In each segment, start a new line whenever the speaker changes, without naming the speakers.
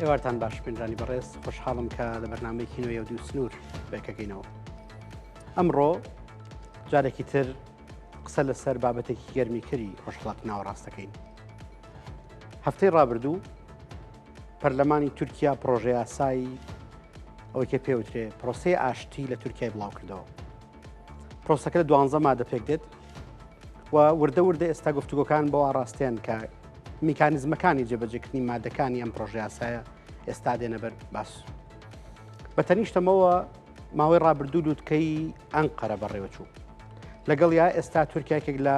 ئێوارتان باش پێنجانی بەڕێز خۆشحاڵم کە لە بەرنمەیەکی نوێ و دوو سنوور بەکەکەینەوە ئەمڕۆ جارێکی تر قسە لەسەر بابەتێکی گەرمی کەری ڕۆژهڵات ناوەڕاستەکەین هەفتەی ڕابردوو پەرلەمانی تورکیا پرۆژەیاسایی ئەوەی کە پێوترێ پرۆسی ئاشتی لە تورکای بڵاو کردەوە پرۆسەکە لە دوانزە مادە پێک دێت و وردە وردە ئێستا گفتوگۆکان بۆ ئاراستێن کە میکانزمەکانی جێبەجێکردنی مادەکانی ئەم پرۆژیاسایە ئێستا دێنەبەر باس بە تەنیشتەمەوە ماوەی ڕابردوو لووتکەی ئەنقەرە بەڕێوەچوو لەگەڵ یا ئێستا تورکیاکێک لە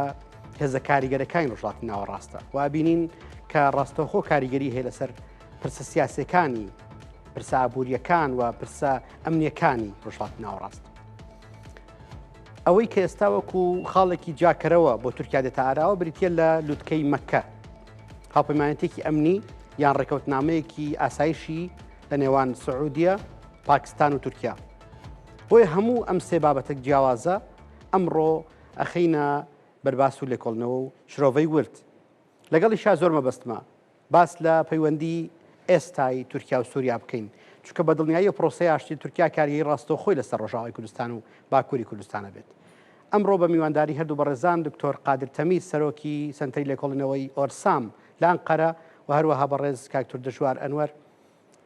هێزە کاریگەرەکانی ڕژاتی ناوەڕاستە و بینین کە ڕاستەوخۆ کاریگەری هەیە لەسەر پرسە سیاسەکانی پرسە ئابوووریەکان و پرسە ئەمنیەکانی ڕژات ناوەڕاست ئەوەی کە ئێستا وەکو خاڵێکی جاکەرەوە بۆ تورکیا دێتە ئاراوە بریتە لە لوتکەی مەکە هاوپەیمانەتێکی ئەمنی یان ڕێکەوتنامەیەکی ئاسایشی لە نێوان سعودیە پاکستان و تورکیا بۆیە هەموو ئەم سێ بابەتە جیاوازە ئەمڕۆ ئەخینە بەرباس و لێکۆڵنەوە و شرۆڤەی ورد لەگەڵی شا زۆر مەبەستمە باس لە پەیوەندیی ئێستای تورکیا و سووریا بکەین، چونکە بە دڵنیاییەوە پرۆسەی ئاشتی تورکیا کارگێری ڕاستەوخۆی لەسەر ڕۆژاوای کوردستان و باکووری کوردستان ئەبێت. ئەمڕۆ بە میوانداریی هەردوو بەڕێزان دکتۆر قادر تەمیر سەرۆکی سەنتەری لێکۆڵینەوەی ئۆرسام لە ئەنقەرە و هەروەها بەڕێز کاک توردشوار ئەنوەر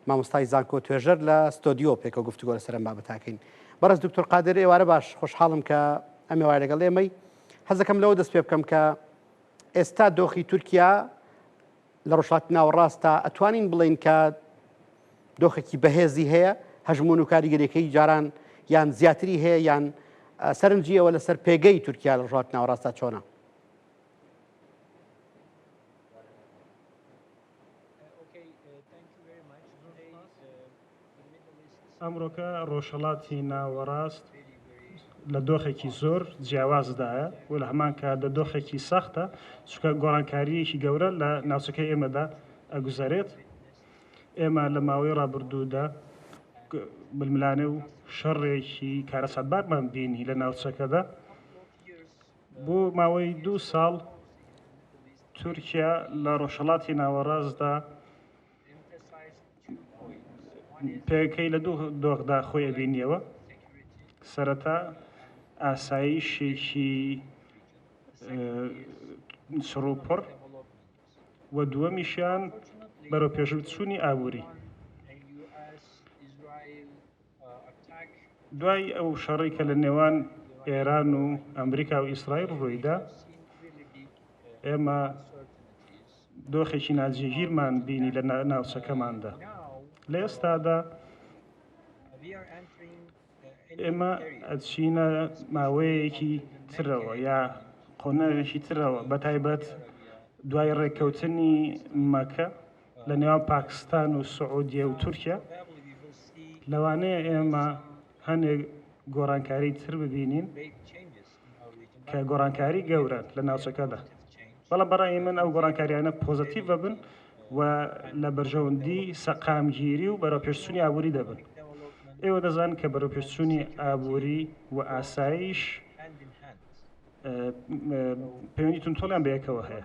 مامۆستای زانکۆ توێژەر لە ستۆدیۆ پێکەوە گفتوگۆ لەسەر ئەم بابەتە ئەکەین. بەڕێز دکتۆر قادر ئێوارە باش، خۆشحاڵم کە ئەم ئێوارە لەگەڵ ئێمەی. حەز دەکەم لەوە دەست پێ بکەم کە ئێستا دۆخی تورکیا لە ڕۆژهەڵاتی ناوەڕاستدا ئەتوانین بڵێین کە دۆخێکی بەهێزی هەیە هەژمون و کاریگەریەکەی جاران یان زیاتری هەیە یان سەرنجی ئەوە لەسەر پێگەی تورکیا لە ڕژات ناوەڕاستە چۆنە
ئەمڕۆکە ڕۆژهەڵاتی ناوەڕاست لە دۆخێکی زۆر جیاوازدایە و لە هەمان کار لە دۆخێکی سەختە چکە گۆڕانکاریەکی گەورە لە ناوچەکە ئێمەدا ئەگوزارێت ئێمە لە ماوەی ڕابردوودا ململانێ و شەڕێکی کارەساتبارمان بینی لە ناوچەکەدا بۆ ماوەی دوو ساڵ تورکیا لە ڕۆژهەڵاتی ناوەڕاستدا پێگەکەی لە دوو دۆخدا خۆی ئەبینیەوە سەرەتا ئاسایشێکی سڕوپڕ و دووەمیشیان بەرەو پێشبچوونی ئابووری دوای ئەو شەڕەی کە لە نێوان ئێران و ئەمریکا و ئیسرائیل ڕوویدا ئێمە دۆخێکی ناجێگیرمان بینی لە ناوچەکەماندا لە ئێستادا ئێمە ئەچینە ماوەیەکی ترەوە یا قۆنەرێکی ترەوە بە تایبەت دوای ڕێککەوتنی مەکە لە نێوان پاکستان و سعودیە و تورکیا، لەوانەیە ئێمە هەنێک گۆڕانکاری تر ببینین کە گۆڕانکاری گەورەن لە ناوچەکەدا. بەڵام بەڕای من ئەو گۆڕانکاریانە پۆزەتیڤ ببن و لە بەرژەوەندی سەقامگیری و بەرەوپێشچوونی ئابووری دەبن. ئێوە دەزانن کە بەرەوپێشچوونی ئابووری و ئاسایش پەیوەندی توندتۆڵیان بەیەکەوە هەیە.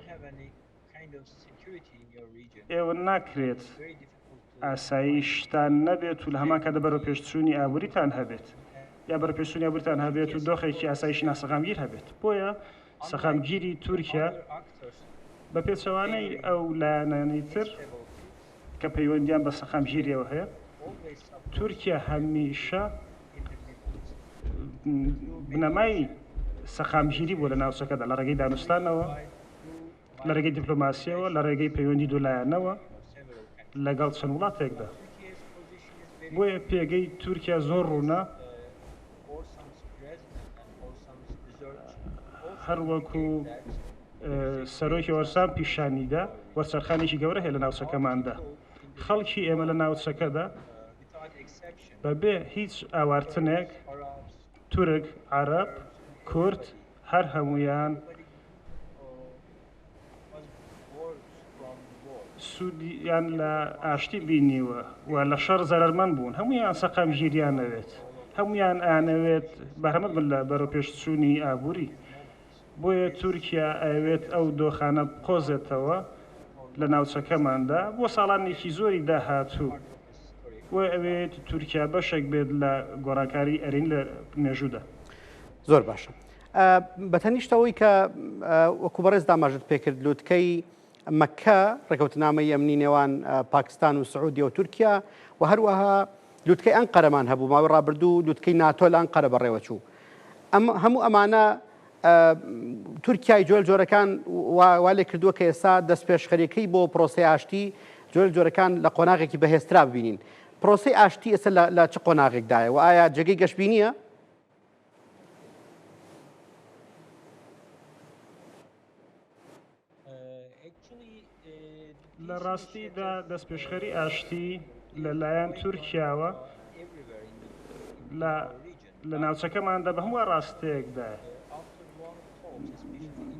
ئێوە ناکرێت ئاسایی شتان نەبێت و لە هەمان کاتدا بەرەوپێشچوونی ئابووریتان هەبێت یا بەرەپێشچوونی ئابووریتان هەبێت و دۆخێکی ئاسایش ناسەقامگیر هەبێت بۆیە سەقامگیری تورکیا بە پێچەوانەی ئەو لایەنانی تر کە پەیوەندیان بە سەقامگیریەوە هەیە تورکیا هەمیشە بنەمای سەقامگیری بۆ لە ناوچەکەدا لە ڕێگەی دانوستانەوە لەرێگەی دیپلۆماسیەوە لەڕێگەی پەیوەندی دولایەنەوە لەگەڵ چەند وڵاتێکدا بۆیە پێگەی تورکیا زۆر ڕوونە هەروەکو سەرۆکی ئۆرسان پیشانیدا وەرچەرخانێکی گەورە هەیە لە ناوچەکەماندا خەڵکی ئێمە لە ناوچەکەدا بەبێ هیچ ئاوارتنێک تورک عرب کورد هەر هەموویان سوودیان لە ئاشتی بینیوە و لە شەڕ زەرەرمەند بوون، هەموویان سەقامگیریان نەوێت، هەموویان ئەیانەوێت بەهرەمەند بن لە بەرەوپێشچوونی ئابووری، بۆیە تورکیا ئەیەوێت ئەو دۆخانە بقۆزێتەوە لە ناوچەکەماندا بۆ ساڵانێکی زۆری داهاتوو. بۆیە ئەوێت تورکیا بەشێک بێت لە گۆڕانکاری ئەرین لە مێژوودا. زۆر
باشە بەتەنیشتەوەی کە وەکو بەڕێز داماژت پێکرد لوتکەی مەکە ڕێکەوتنامەی ئەمنی نێوان پاکستان و سعودی و تورکیا و هەروەها لوتکەی ئەنقەرەمان هەبوو ماوەی ڕابردوو لوتکەی ناتۆل ئەنقەرە بەڕێوە چوو ئەم هەموو ئەمانە تورکیای جۆل جۆرەکان والێ کردووە کە ئێستا دەستپێشخەریەکەی بۆ پرۆسی ئاشتی جۆل جۆرەکان لە قۆناغێکی بەهێسترا ببینین پرۆسی ئاشتی ئێستا لە چ قۆناغێکدایە و ئایا جێگەی گەشببینیە؟
لە ڕاستیدا دەستپێشخەری ئاشتی لە لایەن تورکیاوە لە ناوچەکەماندا بە هەموو ڕاستەیەکدایە.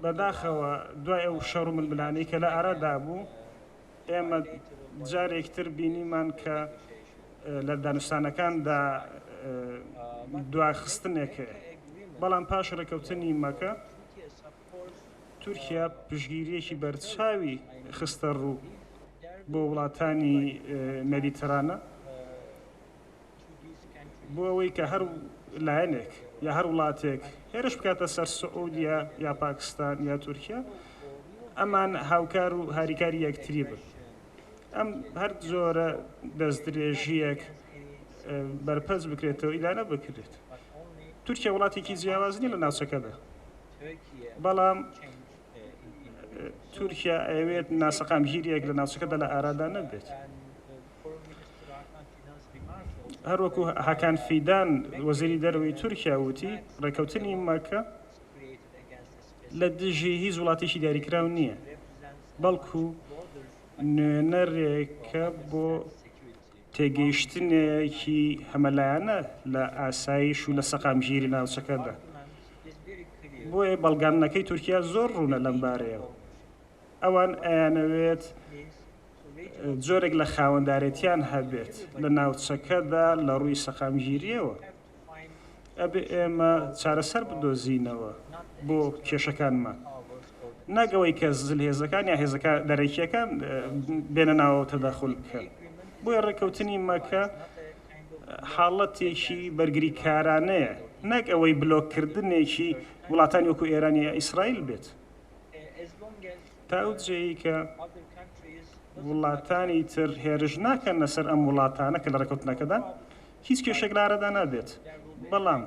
بەداخەوە دوای ئەو شەڕ و ململانەی کە لە ئارادا بوو ئێمە جارێک تر بینیمان کە لە دانوستانەکاندا دواخستنێک هەیە، بەڵام پاش ڕێکەوتنی مەکە تورکیا پشتگیرییەکی بەرچاوی خستەڕوو بۆ وڵاتانی مێدیترانە بۆ ئەوەی کە هەر لایەنێک یا هەر وڵاتێک هێرش بکاتە سەر سعودیا یا پاکستان یا تورکیا ئەمان هاوکار و هاریکاری یەکتری بن ئەم هەر زۆرە دەستدرێژیەک بەرپەرچ بکرێتەوە ئیدانە بکرێت تورکیا وڵاتێکی جیاوازنی لە ناوچەکەدا بەڵام تورکیا ئەوێت ناسەقام گیریەک لە ناوچەکەدا لە ئارادا نەبێت. هەروەکو هاکان فیدان وەزیری دەرەوەی تورکیا وتی ڕێکەوتنی مەکە لە دژی هیچ وڵاتێکی دیاریکراو نییە بەڵکو نوێنەرێکە بۆ تێگەیشتنێکی هەمەلایەنە لە ئاسایش و لە سەقامگیری ناوچەکەدا. بۆیە بەڵگاننەکەی تورکیا زۆر ڕوونە لەم بارەیەوە. ئەوان ئەیانەوێت جۆرێک لە خاوەندارێتیان هەبێت لە ناوچەکەدا لە ڕووی سەقامگیرییەوە. ئەبێ ئێمە چارەسەر بدۆزینەوە بۆ کێشەکانمان نەک ئەوەی کە زلهێزەکان یا هێزەکە دەرەکیەکان بێنە ناوە تەداخل بکەن بۆیە ڕێککەوتنی مەکە حاڵەتێکی بەرگریکارانەیە نەک ئەوەی بلۆککردنێکی وڵاتانی وەکو ئێرانی یا ئیسرائیل بێت تاو جێی کە وڵاتانی تر هێرش ناکەن لەسەر ئەم وڵاتانە کە لە ڕێکوتنەکەدا هیچ کێشەێک لارەدا نابێت بەڵام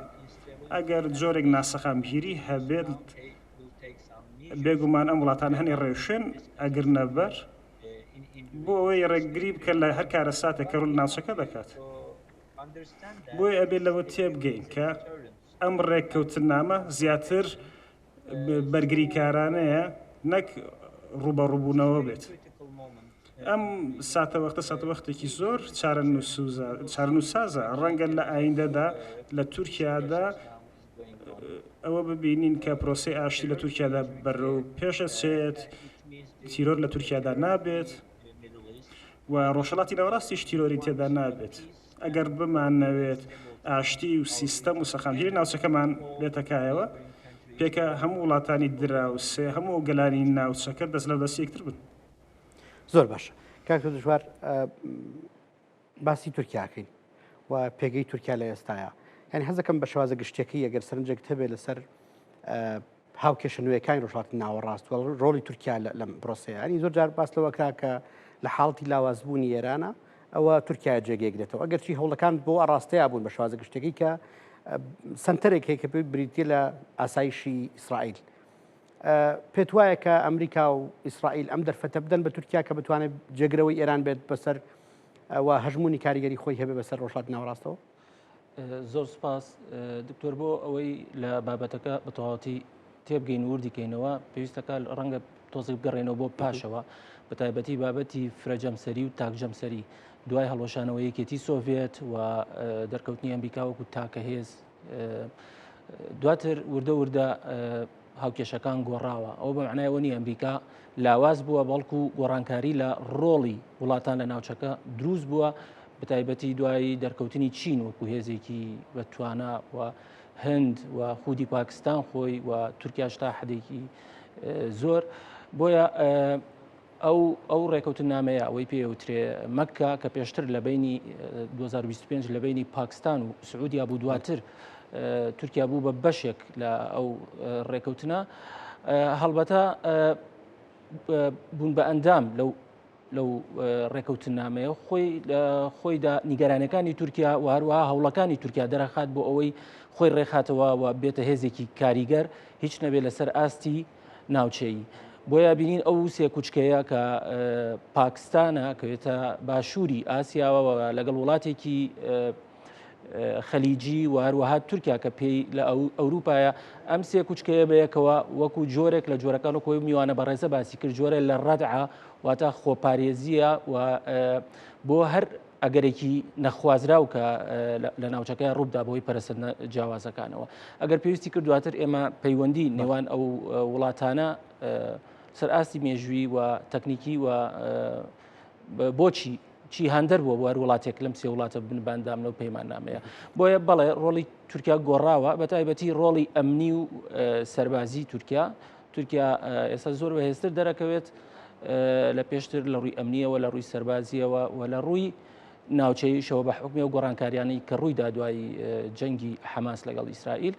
ئەگەر جۆرێک ناسەقامگیری هەبێت بێگومان ئەم وڵاتان هەنێ ڕێوشێن ئەگر نەبەر بۆ ئەوەی ڕێگری بکە لە هەر کارە ساتە کە ڕول ناوچەکە دەکات بۆی ئەبێت لەوە تێبگەین کە ئەم ڕێککەوتنامە زیاتر بەرگریکارانەیە نەک ڕووبەڕووبوونەوە بێت. ئەم ساتەوەختە ساتەوەختێکی زۆر چارەنووسازە ڕەنگە لە ئایندەدا لە تورکیادا ئەوە ببینین کە پرۆسی ئاشتی لە تورکیادا بەرەو پێشەچێت تیرۆر لە تورکیادا نابێت و ڕۆژهڵاتی ناوەڕاستیش تیرۆری تێدا نابێت. ئەگەر بمانەوێت ئاشتی و سیستەم و سەقامگیری ناوچەکەمان بێتە کایەوە، پێکە هەموو وڵاتانی دراوسێ، هەموو گەلانی ناوچەکە دەست لە دەستی یەکتر بن. زۆر
باشە کاک تۆ دژوار باسی تورکیاکەین و پێگەی تورکیا لە ئێستاە یعنی حەزەکەم بە شوازە گشتەکەی ئەگەر سەرنجێک هەبێت لەسەر هاوکێشە نوێیەکانی ڕۆژهەڵاتی ناوەڕاست و ڕۆڵی تورکیا لەم پرۆسەیانی زۆر جار باس لەوە کرا کە لە حاڵەتی لاوازبوونی ئێرانە ئەوە تورکیا جێگەیەگرێتەوە ئەگەرچی هەوڵەکان بۆ ئاراستەیە بوون بە شوازە گشتەکەی کە سنتەرێک هەیە کە پێ بریتە لە ئاسایشی ئیسرائیل پێت وایە کە ئەمریکا و ئیسرائیل ئەم دەرفەتە بدەن بە تورکیا کە بتوانێت جێگرەوەی ئێران بێت بەسەر و هەژمونی کاریگەری خۆی هەبێ بەسەر ڕۆژات ناوڕاستەوە زۆر
سپاس دکتۆر بۆ ئەوەی لە بابەتەکە بەتەواتی تێبگەین وردی کەینەوە پێویستەکە ڕەنگە تۆزی بگەڕێنەوە بۆ پاشەوە بە تایبەتی بابەتی فرەجەمسەری و تاکجەمسەری دوای هەڵۆشانەوە یەکێتی سۆڤێت و دەرکەوتنی ئەمریکاوەکو تاکە هێز دواتر وردە وردە هاوکێشەکان گۆڕاوە ئەوە بەمعنای ئەوە نیە ئەمریکا لاواز بووە بەڵکو گۆڕانکاری لە ڕۆڵی وڵاتان لە ناوچەکە دروست بووە بەتایبەتی دوایی دەرکەوتنی چین وەکو هێزێکی بە توانە و هند و خودی پاکستان خۆی و تورکیا شتا حدێکی زۆر بۆیە ئەو ئەو ڕێکەوتنامەیە ئەوەی پێ وترێ مەککە کە پێشتر لە بینی 2025 لە بینی پاکستان و سعودیا بوو دواتر تورکیا بوو بە بەشێک لە ئەو ڕێکەوتنە هەڵبەتە بوون بە ئەندام لەو لەو ڕێکەوتن نامەیە خۆی خۆیدا نیگەرانەکانی تورکیا و هەروە هەوڵەکانی تورکیا دەرەخات بۆ ئەوەی خۆی ڕێخاتەوە و بێتە هێزێکی کاریگەر هیچ نەبێت لەسەر ئاستی ناوچەیی بۆیە بینین ئەو سێ کوچکەیە کە پاکستانە کەێتە باشووری ئاسیاوە لەگەڵ وڵاتێکی خەلیجی و هەروەها تورکیا کە پێی لە ئەوروپایە ئەم سێ کوچکەیە بەیەکەوە وەکو جۆرێک لە جۆرەکان و کۆی میوانە بەڕێزە باسی کرد جۆرە لە ڕەدعە واتا خۆپارێزیە و بۆ هەر ئەگەرێکی نەخوازراو کە لە ناوچەکەیان ڕووبدا بۆی پەرسەندە جیاوازەکانەوە ئەگەر پێویستی کرد دواتر ئێمە پەیوەندی نێوان ئەو وڵاتانە سەر ئاستی مێژووی و تەکنیکی و بۆچی چی هەندەر بووە بۆ هەر وڵاتێک لەم سێ وڵاتە بنباندام لەو پەیمان نامەیە بۆیە بەڵێ ڕۆڵی تورکیا گۆڕاوە بە تایبەتی ڕۆڵی ئەمنی و سەربازی تورکیا تورکیا ئێستا زۆر بەهێزتر دەرەکەوێت لە پێشتر لە ڕووی ئەمنیەوە لە ڕووی سەربازیەوە و لە ڕووی ناوچەیشەوە بە حکومی و گۆڕانکاریانی کە ڕوویدا دوایی جەنگی حەماس لەگەڵ ئیسرائیل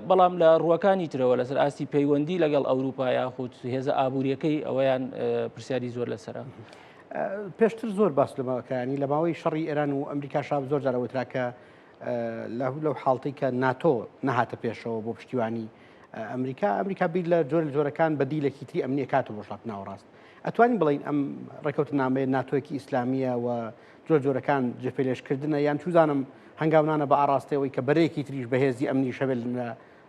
بەڵام لە ڕووەکانی ترەوە لەسەر ئاستی پەیوەندی لەگەڵ ئەوروپا یاخود هێزە ئابوووریەکەی ئەویان پرسیاری زۆر لەسرە.
پێشتر زۆر باس لەمەکانی لە ماوەی شەڕی ئێران و ئەمریکا شاب زۆر جارەوەتراکە لەو حاڵتەی کە ناتۆ نەهاتە پێشەوە بۆ پشتیوانی ئەمریکا ئەمریکا بیر لە جۆر جۆرەکان بە دیلێکی تری ئەمنیە کات و بۆشڵات ناوەڕاست ئەتوانین بڵین ئەم ڕێکەوت نامەیە ناتۆیەکی ئیسلامیە و جۆر جۆرەکان جێپێلێشکردنە یان چوزانم هەنگاونانە بە ئاراستەوەی کە بەرەیەکی تریش بەهێزی ئەمنی شەوێل لە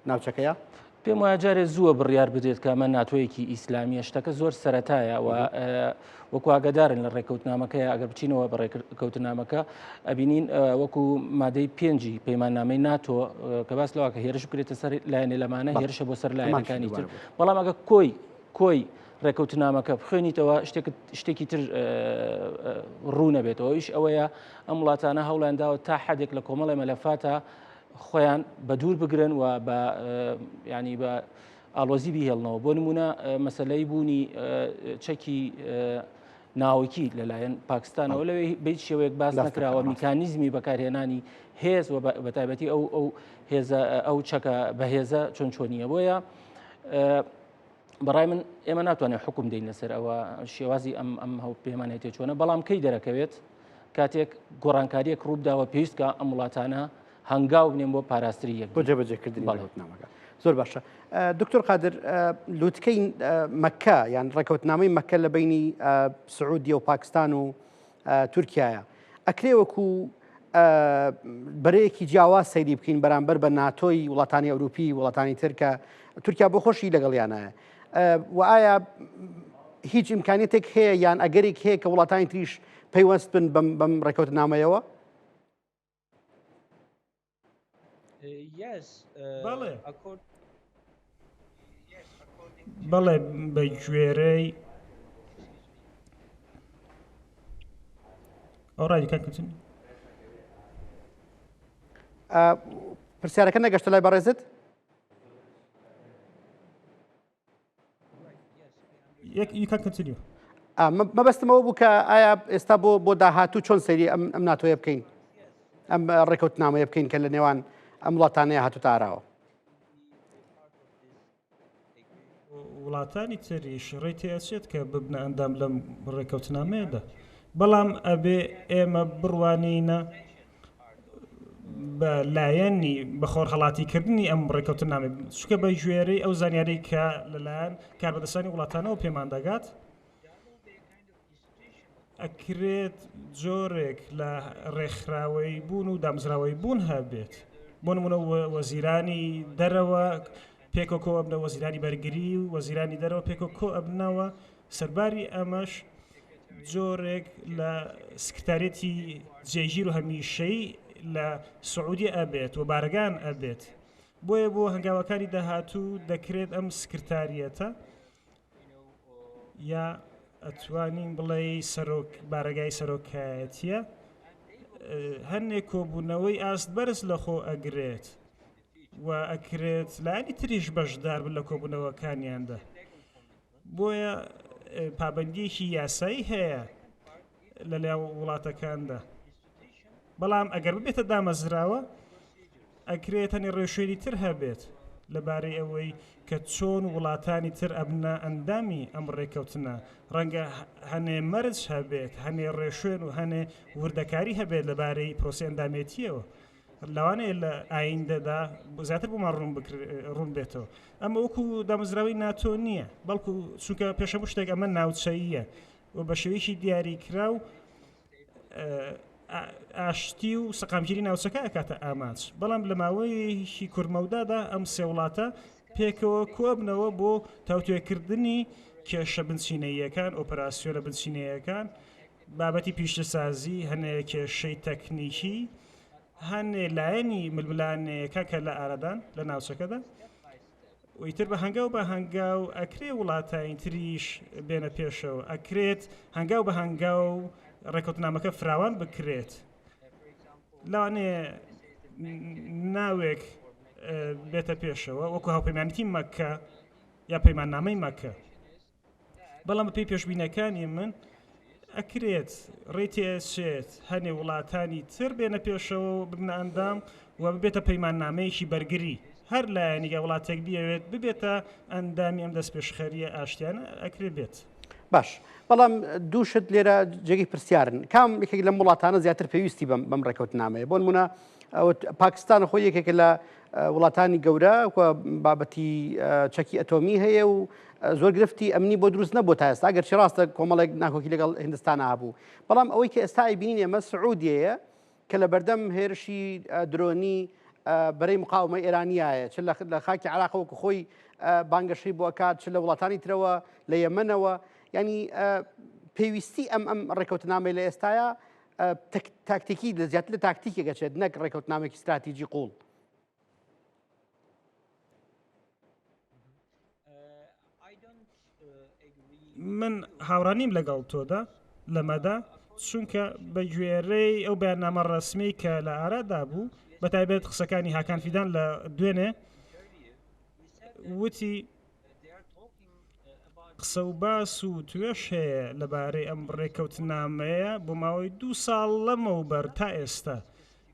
ناوچەکەیە؟ پێم وایە
جارێ زووە بڕیار بدرێت کە ئەمە ناتۆیەکی ئیسلامیە شتەکە زۆر سەتایە و وەکواگەدارن لە ڕێککەوتنامەکە ئەگەر بچینەوە بە ڕێککەوتنامەکە ئەبینین وەکو مادەی پێنجی پەیماننامەی ناتۆ کە باس لەوە کە هێرش بکرێتە سەر لایەنێ لەمانە هێرشە بۆ سەر لایەنەکانی تر بەڵام ئەگە کۆی کۆی ڕێککەوتنامەکە بخوێنیتەوە شتێکی تر ڕوونەبێتەوە ئیش ئەوەیە ئەم وڵاتانە هەوڵیان داوە تا حدێک لە کۆمەڵی مەلەفاتە خۆیان بە دوور بگرن و بە ینی بە ئالۆزی بهێڵنەوە بۆ نمونە مەسلەی بوونی چەکی ناوکی لەلایەن پاکستانەوە لەوێ بیت شێوەیەک باس نکراوە میکانیزمی بەکارهێنانی هێز و بەتابەتی ئەو ئەو هێزە ئەو چەکە بەهێزە چۆن چۆنیە بۆیە بەڕای من ئێمە ناتوانێت حکوم دەین لەسەر ئەوە شێوازی ئەم ئەم هەو پێمانێتی چۆنە بەڵام کەی دەرەکەوێت کاتێک گۆڕانکاریەک ڕووبداوە پێویستکە ئەم وڵاتانە هەنگاو بنێن بۆ پاراستری یەک بۆ جێبەجێکردنی
بەڵێتنامەکە زۆر باشە دکتۆر قادر لوتکەی مەکە یان ڕێکوتنامەی مەکە لە بینی سعودی و پاکستان و تورکیایە ئەکرێ وەکو بەرەیەکی جیاواز سەیری بکەین بەرامبەر بە ناتۆی وڵاتانی ئەوروپی وڵاتانی ترکە تورکیا بۆ خۆشی لەگەڵیانایە و ئایا هیچ ئیمکانێتێک هەیە یان ئەگەرێک هەیە کە وڵاتانی تریش پەیوەست بن بەم ڕێکوت نامەیەوە
بەڵێ بە گوێرەی ئەو ڕایکەکەچن
پرسیارەکە نەگەشتە لای بەڕێزت مەبەستمەوە بوو کە ئایا ئێستا بۆ بۆ داهاتوو چۆن سەری ئەم ئەم ناتۆیە بکەین ئەم ڕێکوت نامەیە بکەین کە لە نێوان ئەم وڵاتانەیە هاتو تاراوە
وڵاتانی تریش ڕێ تێچێت کە ببنە ئەندام لەم ڕێکەوتنامەیەدا بەڵام ئەبێ ئێمە بڕوانینە بە لایەنی بە خۆرهەڵاتی کردنی ئەم ڕێککەوتنامە چکە بە گوێرەی ئەو زانیاری کە لەلایەن کاربەدەستانی وڵاتانەوە پێمان دەگات ئەکرێت جۆرێک لە ڕێکخراوەی بوون و دامزراوەی بوون هەبێت بۆ نمونە وەزیرانی دەرەوە پێکۆکۆ ئەبنە وەزیرانی بەرگری و وەزیرانی دەرەوە پێکۆکۆ ئەبنەوە سەرباری ئەمەش جۆرێک لە سکرتارێتی جێگیر و هەمیشەی لە سعودی ئەبێت و بارگان ئەبێت بۆیە بۆ هەنگاوەکانی داهاتوو دەکرێت ئەم سکرتاریەتە یا ئەتوانین بڵێ سەرۆک بارگای سەرۆکایەتیە هەندێک کۆبوونەوەی ئاست بەرز لە خۆ ئەگرێت و ئەکرێت لانی تریش بەشدار بن لە کۆبوونەوەکانیاندا بۆیە پابەندیەکی یاسایی هەیە لە لای وڵاتەکاندا بەڵام ئەگەر ببێتە دامەزراوە ئەکرێت تەنێ ڕێوشێری تر هەبێت لەبارەی ئەوەی کە چۆن وڵاتانی تر ئەبنە ئەندامی ئەم ڕێککەوتنە ڕەنگە هەنێ مەرج هەبێت هەنێ ڕێشوێن و هەنێ وردەکاری هەبێت لەبارەی پرۆسی ئەندامێتیەوە لەوانەیە لە ئایندەدا زیاتر بۆمان ڕوون بکر- ڕوون بێتەوە ئەمە وەکو دامەزراوەی ناتۆ نییە بەڵکو چونکە پێش هەموو شتێک ئەمە ناوچەییە و بە شێوەیەکی دیاریکرا و ئە، ئا- ئاشتی و سەقامگیری ناوچەکە ئەکاتە ئامانج بەڵام لە ماوەیەکی کورتمەودادا ئەم سێ وڵاتە پێکەوە کۆبنەوە بۆ تاوتوێکردنی کێشە بنچینەییەکان ئۆپەراسیۆنە بنچینەیەکان بابەتی پیشەسازی هەنێ کێشەی تەکنیکی هەن لایەنی ململانێیەکە کە لە ئارادان لە ناوچەکەدا ویتر بە هەنگاو بە هەنگاو ئەکرێ وڵاتین تریش بێنە پێشەوە ئەکرێت هەنگاو بە هەنگاو ڕێکوتنامەکە فراوان بکرێت لەوانێ ناوێک بێتە پێشەوە وەکو هاوپەیمانەتی مەکە یا پەیماننامەی مەکە بەڵام بەپێی پێشبینیەکانی من ئەکرێت ڕێی تێچێت هەنێ وڵاتانی تر بێنە پێشەوە و ببنە ئەندام و ببێتە پەیماننامەیەکی بەرگری هەر لایەنیگە وڵاتێک بیەوێت ببێتە ئەندامی ئەم دەست پێشخەریە ئاشتیان ئەکرێ بێت. باش
بەڵام دووشت لێرە جێگەی پرسیارن کام یەکێک لەم وڵاتانە زیاتر پێویستی بەم بەم ڕێکەوتنامەیە بۆ نمونە پاکستان خۆ یەکێکە لە وڵاتانی گەورە و بابەتی چەکی ئەتۆمی هەیە و زۆر گرفتی ئەمنی بۆ دروست نەبوو تا ئێستا گەرچی ڕاستە کۆمەڵێک ناکۆکی لەگەڵ هندستان هابوو بەڵام ئەوەی کە ئێستا ئەیبینین ئێمە سعودیەیە کە لە بەردەم هێرشی درۆنی بەرەی مقاومە ئێرانیایە چ لە خاکی عراقەوەکو خۆی بانگەشەی بۆ کات چ لە وڵاتانی ترەوە لە یەمەنەوە ینی پێویستی ئەم ئەم ڕێکوتنامەی لە ئێستاە تاکتیکی لە زیاتر لە تاکتیکی گەچێت نەک ڕێکوتنامێکی ستراتیجی قوڵ
من هاوڕانیم لەگەڵ تۆدا لەمەدا چونکە بە گوێرەی ئەو بەرنامە ڕسمی کە لە ئارادا بوو بە تایبێت قسەکانی هاکان فیدان لە دوێنێ وتی قسە و باس و توێش هەیە لەبارەی ئەم ڕێکەوتنامەیە بۆ ماوەی دوو ساڵ لەمەوبەر تا ئێستا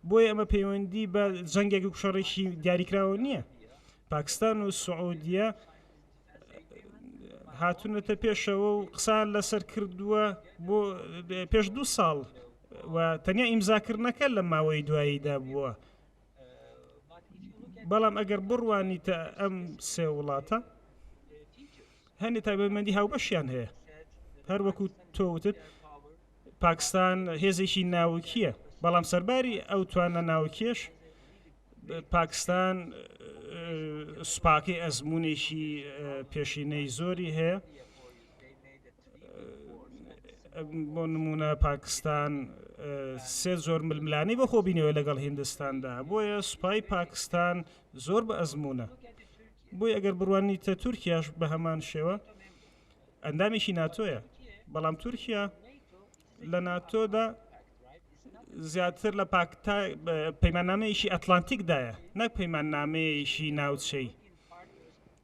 بۆیە ئەمە پەیوەندی بە جەنگێک و شەڕێکی دیاریکراوە نییە پاکستان و سعودیە هاتونەتە پێشەوە و قسان لەسەر کردووە بۆ پێش دوو ساڵ و تەنیا ئیمزاکردنەکە لە ماوەی دواییدا بووە بەڵام ئەگەر بڕوانیتە ئەم سێ وڵاتە هەنێ تایبەتمەندی هاوبەشیان هەیە هەر وەکو تۆوتت پاکستان هێزێکی ناوکیە بەڵام سەرباری ئەو توانە ناوکێش پاکستان سوپاکەی ئەزمونێکی پێشینەی زۆری هەیە بۆ نمونە پاکستان سێ زۆر ململانی بەخۆ بینەوە لەگەڵ هندستاندا بۆیە سوپای پاکستان زۆر بە ئەزمونە بۆی ئەگەر بڕوانی تە تورکیاش بە هەمان شێوە ئەندامێکی ناتۆیە بەڵام تورکیا لە ناتۆدا زیاتر لە پاکتا پەیمانامەیەکی ئەتلانتیکدایە نەک پەیمانامەیەکی ناوچەی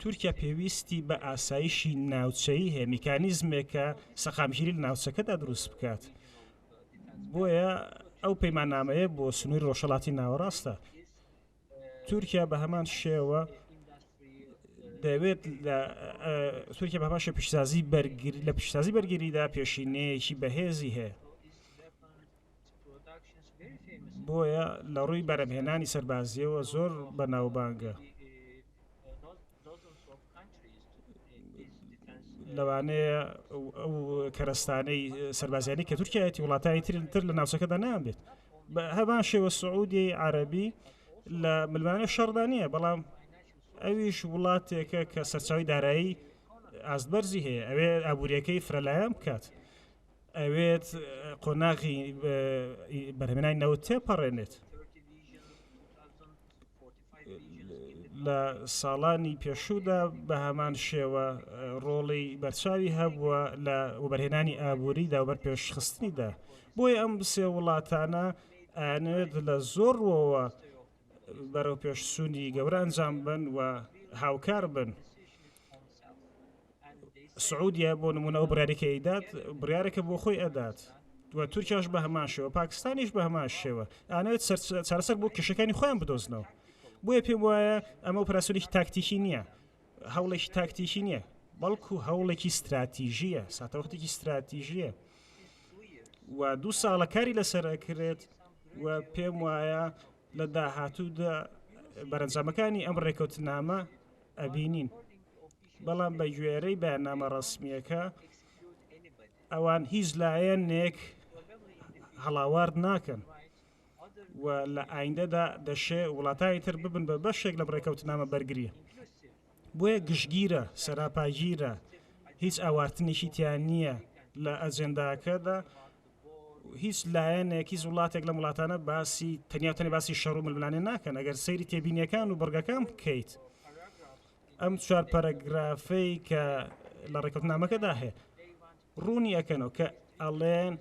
تورکیا پێویستی بە ئاسایشی ناوچەیی هەیە میکانیزمێکە سەقامگیری لە ناوچەکەدا دروست بکات بۆیە ئەو پەیمانامەیە بۆ سنووری ڕۆژەڵاتی ناوەڕاستە تورکیا بە هەمان شێوە دەوێت لە تورکیا بە باشە پیشسازی بەرگری لە پیشسازی بەرگریدا پێشینەیەکی بەهێزی هەیە بۆیە لە ڕووی بەرەمهێنانی سەربازیەوە زۆر بەناوبانگە لەوانەیە ئەو کەرستانەی سەربازیانی کە تورکایەتی وڵاتانی ترتر لە ناوچەکەدا نان بێت بە هەبان شێوە سعودی عربی لە ملمانە شەڕدا نییە بەڵام ئەویش وڵاتێکە کە سەرچاوی دارایی ئاستبەرزی هەیە ئەوێ ئابوووریەکەی فرەلایەن بکات ئەوێت قۆناغی بەرهمێنانی نەوت تێپەڕێنێت لە ساڵانی پێشوودا بە هەمان شێوە ڕۆڵی بەرچاوی هەبووە لە وبەرهێنانی ئابووری داوبەر پێشخستنیدا بۆیە ئەم سێ وڵاتانە ئەنێت لە زۆرەوە بەرەوپێش سوودی گەورە ئەنجام بن و هاوکار بن سعودیە بۆ نمونە ئەو بڕارێکە ئەیدات بڕارێکە بۆ خۆی ئەدات و تورکیاش بە هەمان شێوە پاکستانیش بە هەمان شێوە ئانەوێت چارەسەر بۆ کێشەکانی خۆیان بدۆزنەوە بۆیە پێم وایە ئەمە پراسوریی تاکتیکی نییە هەوڵێکی تاکتیکی نییە بەڵکو هەوڵێکی استراتیژیە ساتەوەختێکی استراتیژیە و دوو ساڵە کاری لەسەر ئەکرێت و پێم وایە لە داهاتوودا بەرەنجامەکانی ئەم ڕێکەوتنامە ئەبینین بەڵام بە گوێرەی بەنامە ڕسمیەکە ئەوان هیچ لایەنێک هەڵاوارد ناکەن و لە ئایندەدا دەشێ وڵاتانی تر ببن بە بەشێک لەم ڕێکەوتنامە بەرگری بۆیە گشتگیرە سەراپاگیرە هیچ ئاوارتنێکی تیان نییە لە ئەجێنداکەدا هیچ لایەنێک هیچ وڵاتێک لە وڵاتانە باسی تەنیاتەنی باسی شەڕ و ململانێ ناکەن ئەگەر سەیری تێبینیەکان و بڕگەکان بکەیت ئەم چوار پەرەگرافەی کە لە ڕێکوتنامەکەدا هەیە ڕوونی ئەکەنەوە کە ئەڵێن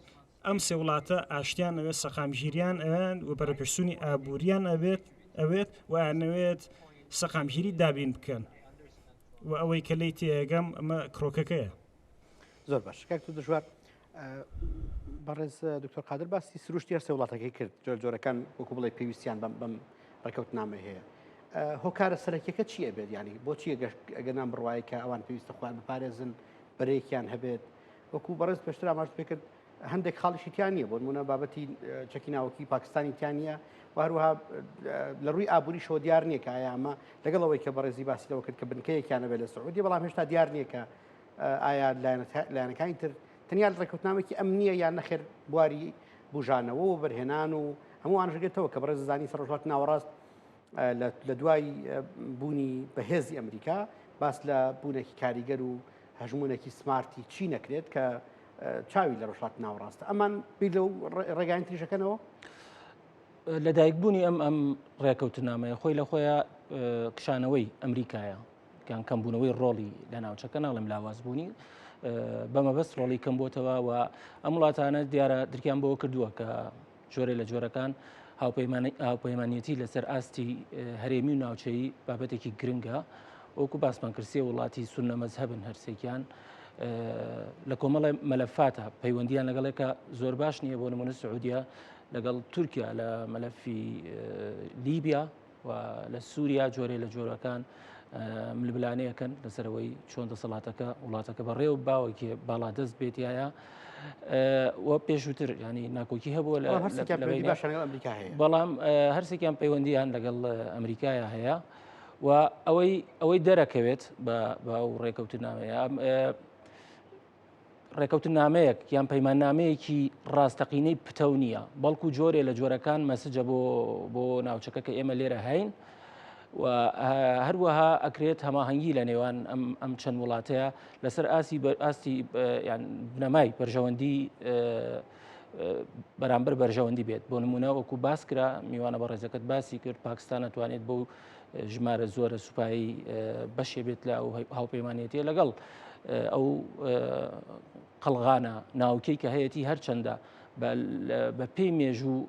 ئەم سێ وڵاتە ئاشتیان ئەوێت سەقامگیریان ئەوێن و پەرەپشتنی ئابووریان ئەبێت ئەوێت وانەوێت سەقامگیری دابین بکەن و ئەوەی کە لی تێگەم ئەمە کرۆکەکەیە زۆر
باش کاک تو دژوار بەڕێز دکتۆر قادر باسی سروشتی هەر سێ وڵاتەکەی کرد جۆر جۆرەکان وەکو بڵێ پێویستیان بەم بەم ڕێکەوت نامە هەیە هۆکارە سەرەکیەکە چیە بێت ینی بۆچیە گەشت ئەگەر نام بڕواایە کە ئەوان پێویستە خۆیان بپارێزن بەرەیەکیان هەبێت وەکو بەڕێز پێشتر ئاماژ پێ کرد هەندێک خاڵیشی تیان نییە بۆن منە بابەتی چەکی ناوکی پاکستانی تیان نییە وهروها لە ڕووی ئابووری شۆ دیار نییە کە ئایا ئەمە لەگەڵ ئەوەی کە بەڕێزی باسیەوە کرد کە بنکەیەکیانە بێت لە سعودی بەڵام هێشتا دیار نییە کە ئایا لایەنەکانی تر تەنیا ڕێکوتنامێکی ئەم نییە یان نەخێر بواری بژانەوە و بەرهێنان و هەمووان ژگێتەوە کە بەڕێز زانی سەرۆژات ناوەڕاست لە دوای بوونی بەهێزی ئەمریکا باس لە بوونێکی کاریگەر و هەژمونێکی سمارتی چی نەکرێت کە چاوی لە ڕۆژات ناوڕاستە ئەمان بیر لەو ڕێگاین تریشەکەنەوە
لە دایکبوونی ئەم ئەم ڕێکەوتنامەیە خۆی لە خۆیان کشانەوەی ئەمریکایە کان کەمبوونەوەی ڕۆڵی لە ناوچەکە ناڵم لاوازبوونی بەمەبەست ڕۆڵی کەم بۆتەوە و ئەم وڵاتانە دیارە درکیان بەوە کردووە کە جۆرێ لە جۆرەکان هاوپەیمانەتی لەسەر ئاستی هەرێمی و ناوچەی بابەتێکی گرنگە وەکو باسمان کرسیە وڵاتی سونە مەزهبن هەرسێکیان لە کۆمەڵی مەلەفاتە پەیوەندیان لەگەڵێکە زۆر باش نییە بۆ نمونە سعودیە لەگەڵ تورکیا لە مەلەفی لیبیا و لە سووریا جۆرێ لە جۆرەکان ملبلانەیەکەن لەسەرەوەی چۆن دەسەڵاتەکە وڵاتەکە بە ڕێو باوەکێ باڵا دەست بێت یاە و پێشووتر ینی ناکۆکی هەبووە لە بەڵام هەرسێکیان پەیوەندیان لەگەڵ ئەمریکایە هەیە و ئەوەی ئەوەی دەرەکەوێت بە باو ڕێکەوتنامەیە ڕێکەوتنامەیەک یان پەیماننامەیەکی ڕاستەقینەی پتەو نییە بەڵکو جۆرێ لە جۆرەکان مەسجە بۆ بۆ ناوچەکە کە ئێمە لێرە هەین هەروەها ئەکرێت هەماهەنگی لە نێوان ئەم چەند وڵاتەیە لەسەر ئاسی ئاستی بنەمای بەرژەوەندی بەرامبەر بەرژەوەندی بێت بۆ نمونە وەکو باسکرا میوانە بە ڕێزەکەت باسی کرد پاکستان ناتوانێت بۆ ژمارە زۆرە سوپایی بەشێ بێت لە ئەو هاوپەیمانەتە لەگەڵ ئەو قەلغانە ناوکەی کە هەیەی هەرچەندە بە پێی مێژوو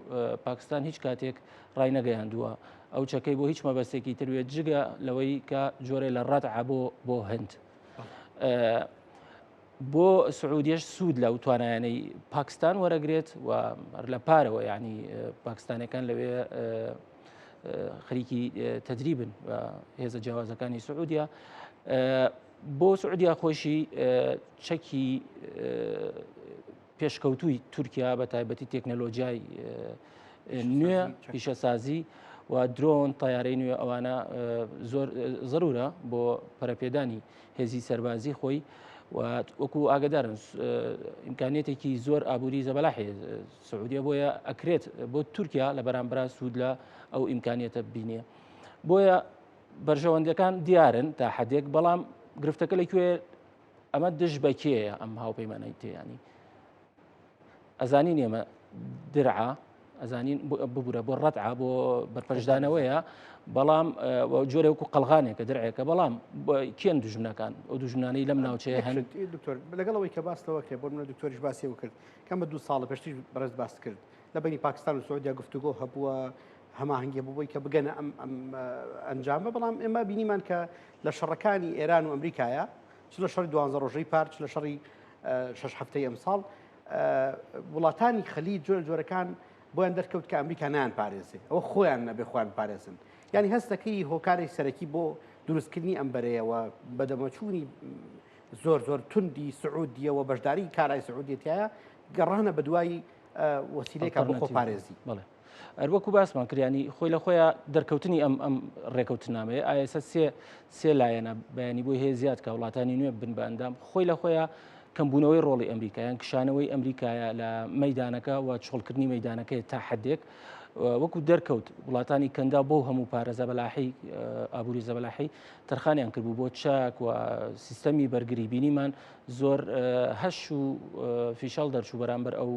پاکستان هیچ کاتێک ڕای نەگەیاندووە ئەو چەکەی بۆ هیچ مەبەستێکی تروێت جگە لەوەی کە جۆرە لە ڕەت عبۆ بۆ هەند. بۆ سعودیش سوود لەو توانایانەی پاکستان وەرەگرێت و لە پارەوە ینی پاکستانەکان لەوێ خەریکی تەدریبن و هێزە جیاوازەکانی سعودیا بۆ سعودیا خۆشی چەکی پێشکەوتووی تورکیا بە تایبەتی تەکنەلۆژیای نوێ پیشەسازی و درۆن تیارەی نوێ ئەوانە زۆر ضرورە بۆ پەرەپێدانی هێزی سەربازی خۆی وەکو ئاگدارن ئیمکانێتێکی زۆر ئابووری زەبەلا حێز سعودیە بۆیە ئەکرێت بۆ تورکیا لە بەرامبرا سوود لە ئەو ئیمکانیەتە بینێ بۆیە بەرژەوەندەکان دیارن تا حدێک بەڵام گرفتەکە لەکوێ ئەمە دژ بەکێیە ئەم هاوپەیمانەی تێیانی ئەزانین ئێمە درعا ئەزانین ببوورە بۆ ڕەتع بۆ بەرپەرشدانەوەیە بەڵام جۆرە وەکو قەلغانێکە درعێکە بەڵام کێن دژمنەکان ئەو دژمنانەی لەم ناوچەیە هەن دکتۆر لەگەڵەوەی
کە باستەوە کرێ بۆ منە دکتۆریش باسی و کرد کەمە دوو ساڵە پێشتریش بەڕێز باست کرد لە بینی پاکستان و سعودیا گفتوگۆ هەبووە هەماهنگگە بووی کە بگەنە ئەم ئەم ئەنجامە بەڵام ئێمە بینیمان کە لە شەڕەکانی ئێران و ئەمریکایە چ لە شەڕی دوانزە ڕۆژەی پارچ لە شەڕی شش هەفتەی ئەمساڵ وڵاتانی خەلی جۆر جۆرەکان بۆیان دەرکەوت کە ئەمریکا نیان پارێزێ ئەوە خۆیان نەبێ خۆیان پارێزن ینی هەستەکەی هۆکاری سەرەکی بۆ دروستکردنی ئەم بەرەیەوە بەدەمەچوونی زۆر زۆر توندی سعودیە و بەشداری کارای سعودێتایە گەڕانە بە دوای وەسیلێکە بۆ خۆپارێزی بڵێ. ئەروەکو
باسمان کریانی خۆی لە خۆیان دەرکەوتنی ئەم ئەم ڕێکەوتنامەیە ئایسە سێ سێ لایەنە بەیانی بۆی هەیە زیاد کە وڵاتانی نوێ بن بە ئەندام خۆی لە خۆیان کەمبوونەوەی ڕۆڵی ئەمریکایان کشانەوەی ئەمریکایە لە مەدانەکە و چۆڵکردنی مەدانەکەی تا حدێک وەکو دەرکەوت وڵاتانی کەندا بۆ هەموو پارێزە بەلاحی ئابووری زەبەلاحی تەرخانیان کردبوو بۆ چاک و سیستەمی بەرگری بینیمان زۆر هەش و فیشەڵ دەرچوو بەرامبەر ئەو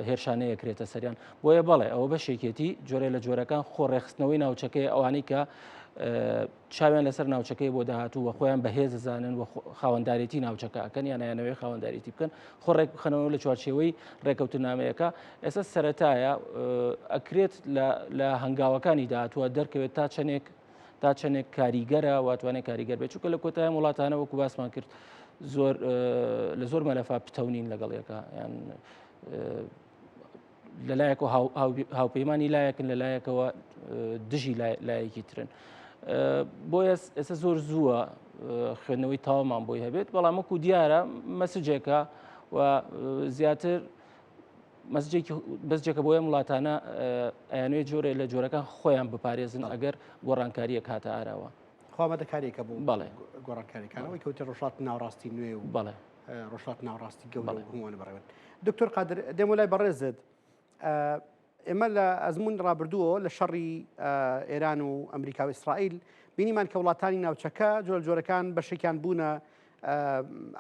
هێرشانەیە کرێتە سەریان بۆیە بەڵێ ئەوە بەشێکێتی جۆرە لە جۆرەکان خۆڕێخستنەوەی ناوچەکەی ئەوانەی کە چاویان لەسەر ناوچەکەی بۆ داهاتوو وە خۆیان بەهێز زانن و خاوەندارێتی ناوچەکە ئەکەن یان نایانەوەی خاوەندارێتی بکەن خۆ ڕێک بخەنەوە لە چوارچێوەی ڕێکەوتنامەیەەکە ئێستا سەتایە ئەکرێت لە هەنگاوەکانی داهاتوە دەرکەوێت تا چەندێک تا چەندێک کاریگەرە واتوانێت کاریگەر بێت چونکە لە کۆتایان وڵاتانە وەکو باسمان کرد زۆر لە زۆر مەلەفا پتەونین لەگەڵ یەکە یان لە لایەک و هاوپەیمانانی لایەکن لە لایەکەوە دژی لایەکی ترن. بۆیە ئێستا زۆر زووە خوێندنەوەی تاوامان بۆی هەبێت بەڵام وەکو دیارە مەسجێکە و زیاتر بەسجێکە بۆ ئەم وڵاتانە ئەیانوێ جۆرە لە جۆرەکان خۆیان بپارێزن ئەگەر گۆڕانکاریە کاتە ئاراوە خۆمەدە کارێکە بوو
بەڵێ گۆڕانکاریەکانەوەی
کەوتە
ڕۆژات ناوڕاستی نوێ و بەڵێ ڕۆژات
ناوڕاستی
گەڵ هەمووان بڕێن دکتۆر قادر دێم لای بەڕێزت ئێمە لە ئەزمون ڕابردووە لە شەڕی ئێران و ئەمریکا و ئیسرائیل بینیمان کە وڵاتانی ناوچەکە جۆر جۆرەکان بەشێکیان بوونە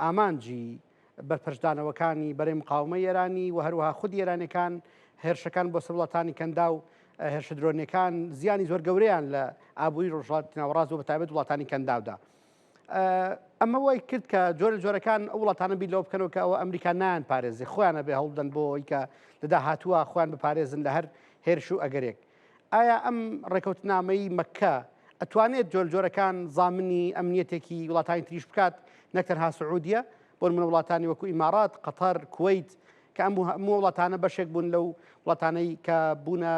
ئامانجی بەرپەرچدانەوەکانی بەرەی مقاومەی ئێرانی و هەروەها خودی ئێرانیەکان، هێرشەکان بۆ سەر وڵاتانی کەنداو، هێرشە درۆنیەکان زیانی زۆر گەورەیان لە ئابووری ڕۆژهەڵاتی ناوەڕاست و بەتایبەت وڵاتانی کەنداودا. ئەمە وای کرد کە جۆرە جۆرەکان ئەو وڵاتانە بیر لەوە بکەنەوە کە ئەوە ئەمریکا نایان پارێزی خۆیانە بێ هەوڵدەن بۆ ئەوی کە لە داهاتووە خۆیان بپارێزن لە هەر هێرش و ئەگەرێک ئایا ئەم ڕێکەوتنامەی مەککە ئەتوانێت جۆر جۆرەکان زامنی ئەمنیەتێکی وڵاتانی تریش بکات نەک تەنها سعودیە بۆ منە وڵاتانی وەکو ئیمارات قەتەر کویت کە ئەم هەموو وڵاتانە بەشێک بوون لەو وڵاتانەی کە بوونە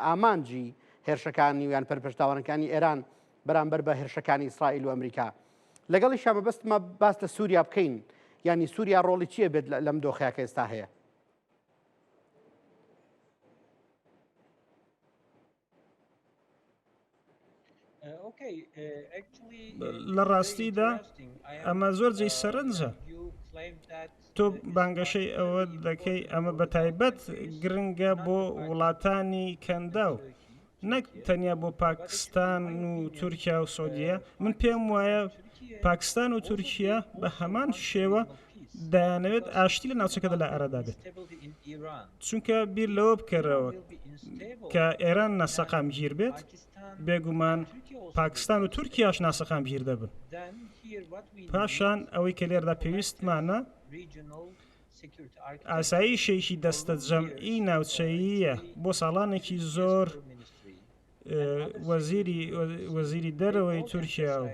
ئامانجی هێرشەکانی ویان پەرپشتاوانەکانی ئێران بەرامبەر بە هێرشەکانی ئیسرائیل و ئەمریکا لەگەڵی شامەبەستمە باس لە سووریا بکەین ینی سووریا ڕۆڵی چیە بێت لەم دۆخەیە کە ئێستا هەیە
لە ڕاستیدا ئەمە زۆر جێ uh, سەرنجە تۆ بانگەشەی ئەوە دەکەی ئەمە بە تایبەت گرنگە بۆ وڵاتانی کەنداو نەک تەنیا بۆ پاکستان و تورکیا و سعودیە من پێم وایە پاکستان و تورکیا بە هەمان شێوە دەیانەوێت ئاشتی لە ناوچەکەدا لە ئەرەدا بێت چونکە بیر لەوە بکەرەوە کە ئێران نەسەقام گیر بێت بێگومان پاکستان و تورکیاش ناسەقام گیر دەبن پاشان ئەوەی کە لێردا پێویستمانە ئاسایشێکی دەستەجەمعی ناوچەییە بۆ ساڵانێکی زۆر وەزیری دەرەوەی تورکیا و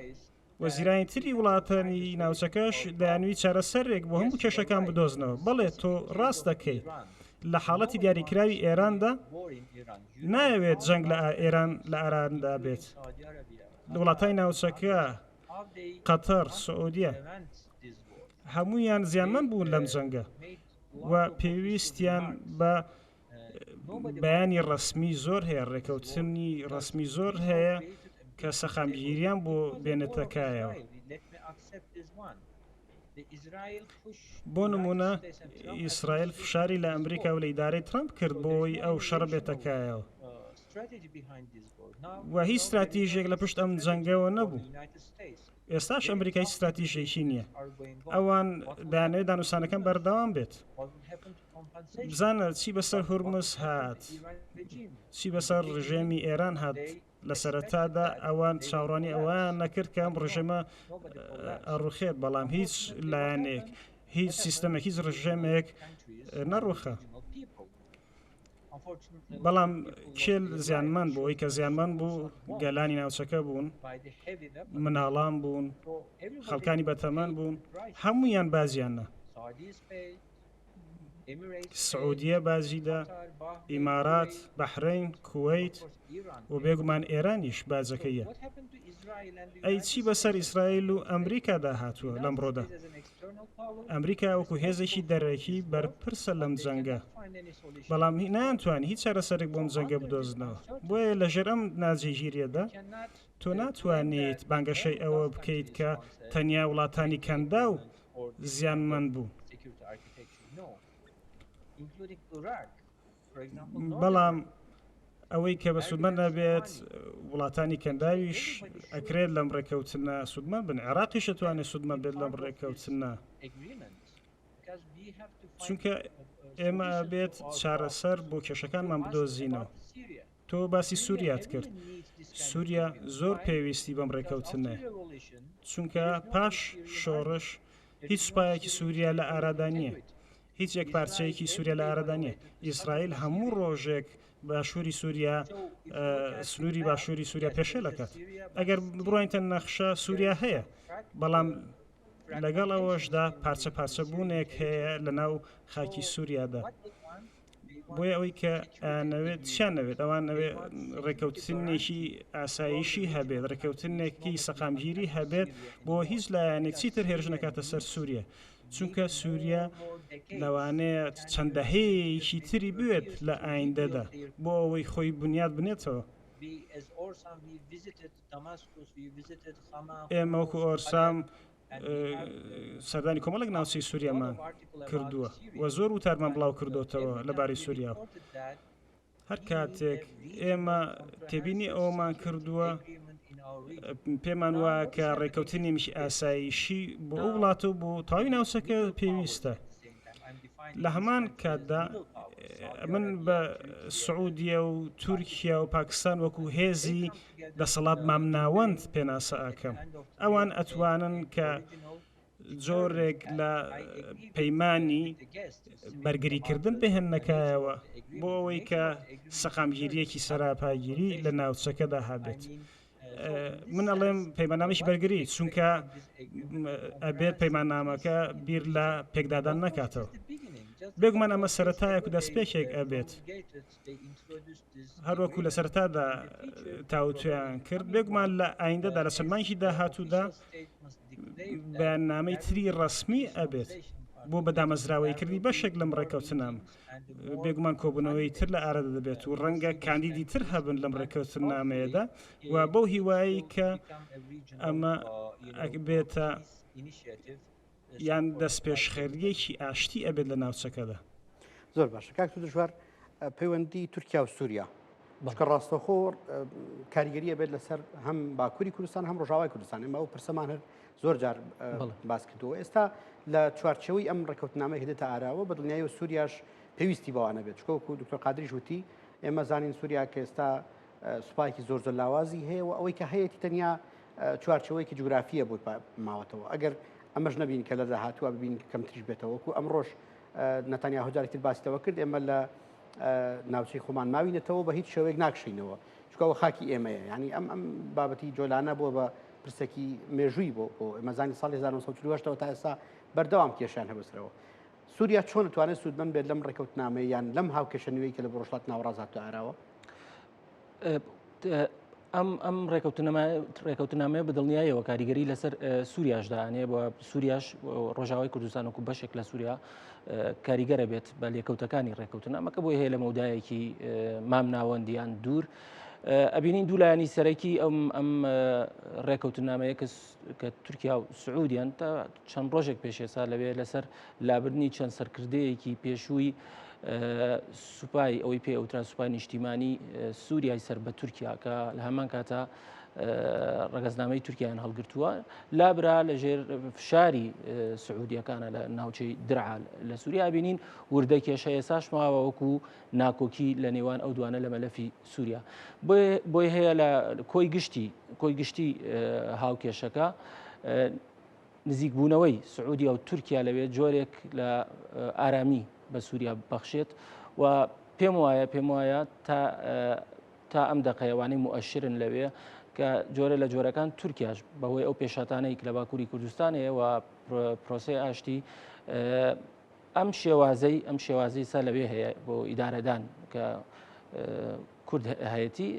وەزیرانی تری وڵاتانی ناوچەکەش دەیانوی چارەسەرێک بۆ هەموو کێشەکان بدۆزنەوە بەڵێ تۆ ڕاست دەکەی لە حاڵەتی دیاریکراوی ئێراندا ناوێت جەنگ لە ئێران لە ئاراندا بێت وڵاتانی ناوچەکە قەتەر، سعودیە هەموویان زیانمەند بوون لەم جەنگە و پێویستیان بە بەیانی ڕەسمی زۆر هەیە، ڕێکەوتنی ڕەسمی زۆر هەیە کە سەقامگیریان بۆ بێنێتە کایەوە. بۆ نمونە ئیسرائیل فشاری لە ئەمریکا و لە ئیدارەی ترەمپ کرد بۆی ئەو شەڕ بێتەکایەوە. و هیچ ستراتیژێک لە پشت ئەم جەنگەوە نەبوو ئێستاش ئەمریکا هیچ ستراتیژێکی نییە ئەوان دانێت دانوسانەکەم بەردەوام بێت بزانە چی بەسەر هورمز هات چی بەسەر ڕژێمی ئێران هات لە سەرەتادا ئەوان چاوڕانی ئەوان نەکرد کە ئەم ڕژێمە ئەڕوخێت بەڵام هیچ لایەنێک هیچ سیستەمێک هیچ ڕژێمێک نەڕوخە بەڵام کێل زیانمان بۆ ئەوی کە زیانمان بوو گەلانی ناوچەکە بوون مناڵان بوون خەڵکانی بەتەمان بوون هەمویان بازیانە سعودیە بازیدا ئیمارات بەحرین کویت و بێگومان ئێرانیش باجەکەیە ئەی چی بەسەر ئیسرائیل و ئەمریکادا هاتووە لەمڕۆدا ئەمریکا وەکو هێزێکی دەرەکی بەرپرسە لەم جەنگە بەڵام نانتوانانی هیچ چارەسەرێک بۆم جەنگە بدۆزنەوە بۆیە لەژێر ئەم ناجێگیریەدا تۆ ناتوانیت بانگەشەی ئەوە بکەیت کە تەنیا وڵاتانی کەندا و زیانمەند بوو. بەڵام ئەوەی کە بە سوودمە نەبێت وڵاتانی کەنداویش ئەکرێت لەم ڕێکەوتنە سوودمە بن عێراقیش توانێت سوودمە بێت لەم ڕێکەوتنە چونکە ئێمە بێت چارەسەر بۆ کێشەکانمان بدۆزینەوە تۆ باسی سووریات کرد سووریا زۆر پێویستی بەم ڕێکەوتنە چونکە پاش شۆڕش هیچ سوپایەکی سووریا لە ئارادا نییە هیچ یەک پارچەیەکی سوریا لە ئارەدا نیە ئیسرائیل هەموو ڕۆژێک باشووری سوریا سنووری باشووری سوریا پێشێل دەکات ئەگەر بڕۆینتە نەخشە سوریا هەیە بەڵام لەگەڵ ئەوەشدا پارچە پارچە بوونێک هەیە لە ناو خاکی سووریادا بۆیە ئەوەی کە نەوێت چیان نەوێت ئەوان ئەوێ ڕێکەوتنێکی ئاسایشی هەبێت ڕێکەوتنێکی سەقامگیری هەبێت بۆ هیچ لایەنێک چیتر هێرش نکاتە سەر سووریە چونکە سوریا لەوانەیە چەند دەهەیەیەکی تری بوێت لە ئایندەدا بۆ ئەوەی خۆی بنیات بنێتەوە ئێمە وەکو ئۆرسام سەردانی کۆمەڵک ناوچەی سووریامان کردووە و زۆر وتارمان بڵاو کردوتەوە لەبارەی سووریا هەر کاتێک ئێمە تێبینی ئەوەمان کردووە پێمان وایە کە ڕێککەوتنی مش ئاسایشی بۆ ئەو وڵات و بۆ تاوی ناوچەکە پێویستە لە هەمان کاتدا من بە سعودیە و تورکیا و پاکستان وەکو هێزی دەسەڵات مامناوەند پێناسە ئەکەم ئەوان ئەتوانن کە جۆرێک لە پەیمانی بەرگریکردن پێهێنەکایەوە بۆ ئەوەی کە سەقامگیریەکی سەراپاگیری لە ناوچەکەدا هابێت. من ئەڵێم پەیمانامەش بەرگری چونکە ئەبێ پەیمانامەکە بیر لە پێکدادان نکاتەوە بێگومان ئەمە سەتایەک و دەستپێکێک ئەبێت هەروەکو لە سەرەتادا تاوتوێیان کرد بێگومان لە ئایندەدا لە چەند مانگی داهاتوودا بەیاننامەی تری ڕسمی ئەبێت بۆ بەدامەزراوەی کردی بەشێک لەم ڕێککەوتنام بێگومان کۆبوونەوەی تر لە ئارەدا دەبێت و ڕەنگە کاندیدی تر هەبن لەم ڕێککەوتن نامەیەدا و بەو هیوایی کە ئەمە ئەگبێتە یان دەستپێشخەرییەکی ئاشتی ئەبێت لە ناوچەکەدا؟ زۆر باشە
کاک تو دژوار پەیوەندی تورکیا و سووریا بەڵکە ڕاستەخۆ کاریگەریە بێت لەسەر هەم باکووری کوردستان هەم ڕژاوای کوردستان ئەمە و پرسەمان هەر زۆر جار باس کردووە ئێستا لە چوارچەوەی ئەم ڕێککەوتنامەی هدێتە ئاراوە بە دڵنیایی و سووریاش پێویستی بەوانە بێت چکۆکو دکتۆر قادریش وتی ئێمە زانین سووریا کە ئێستا سوپایکی زۆر زۆر لاوازی هەیە و ئەوەی کە هەیەی تەنیا چوارچەوەیەکی جوگرافیە بۆی ماوەتەوە ئەگەر ئەمەش نبین کە لە داهاتوە ببین کەم تریش بێتەوەکو ئەم ڕۆژ نەتانیا هۆجاری تر باسیتەوە کرد ئێمە لە ناوچەی خۆمان ماوینەتەوە بە هیچ شوێک ناکشینەوە چکەوە خاکی ئێمەیە ینی ئەم ئەم بابەتی جۆلانە بووە بە پرسێکی مێژووی بۆ بۆ ئەمەزانی ساڵ 1970ەوە تا ئێستا بەردەوام کێشیان هەبسرەوە سووریا چۆن توانێت سوودمن بێت لەم ڕێککەوتنامەیان لەم هاوکێشە نوێی کە لە بۆشڵات ناوڕازات عراوە
ئەم ئەم ڕێکەوتنامەیە بە دڵنیایەوە کاریگەری لەسەر سووریاشدانێ بە سووریاش ڕۆژاوای کوردستان وکو بەشێک لە سووریا کاریگەرە بێت بە لێکەوتەکانی ڕێکەوتنامەکە بۆی هەیە لە مەودایەکی مام ناوەندیان دوور. ئەبینین دوو لایەنی سەرەکی ئەم ئەم ڕێکەوتنامەیە کە کە تورکیا و سعودیان تا چەند ڕۆژێک پێشێسا لەوێ لەسەر لابردنی چەند سەرکردەیەکی پێشووی سوپای ئەوەی پێ ئەوترا سوپای نیشتیمانی سووریای سەر بە تورکیا کە لە هەمان کاتە ڕگەزنامەی تورکیان هەڵگرتووە لابرا لە ژێر فشاری سعودیەکانە لە ناوچەی درعا لە سووریا بینین وردە کێشە ئێساش ماوە وەکو ناکۆکی لە نێوان ئەو دوانە لە مەلەفی سووریا بۆی هەیە لە کۆی گشتی کۆی گشتی هاوکێشەکە نزیکبوونەوەی سعودیا و تورکیا لەوێ جۆرێک لە ئارامی بە سووریا بەخشێت و پێم وایە پێم وایە تا تا ئەم دەقەیەوانەی موئشرن لەوێ کە جۆرە لە جۆرەکان تورکیاش بەهۆی ئەو پێشاتانەی لە باکووری کوردستانەیە و پرۆسی ئاشتی ئەم شێوازەی ئەم شێوازی سا لەوێ هەیە بۆ ئیدارەدان کە کورد هەیەتی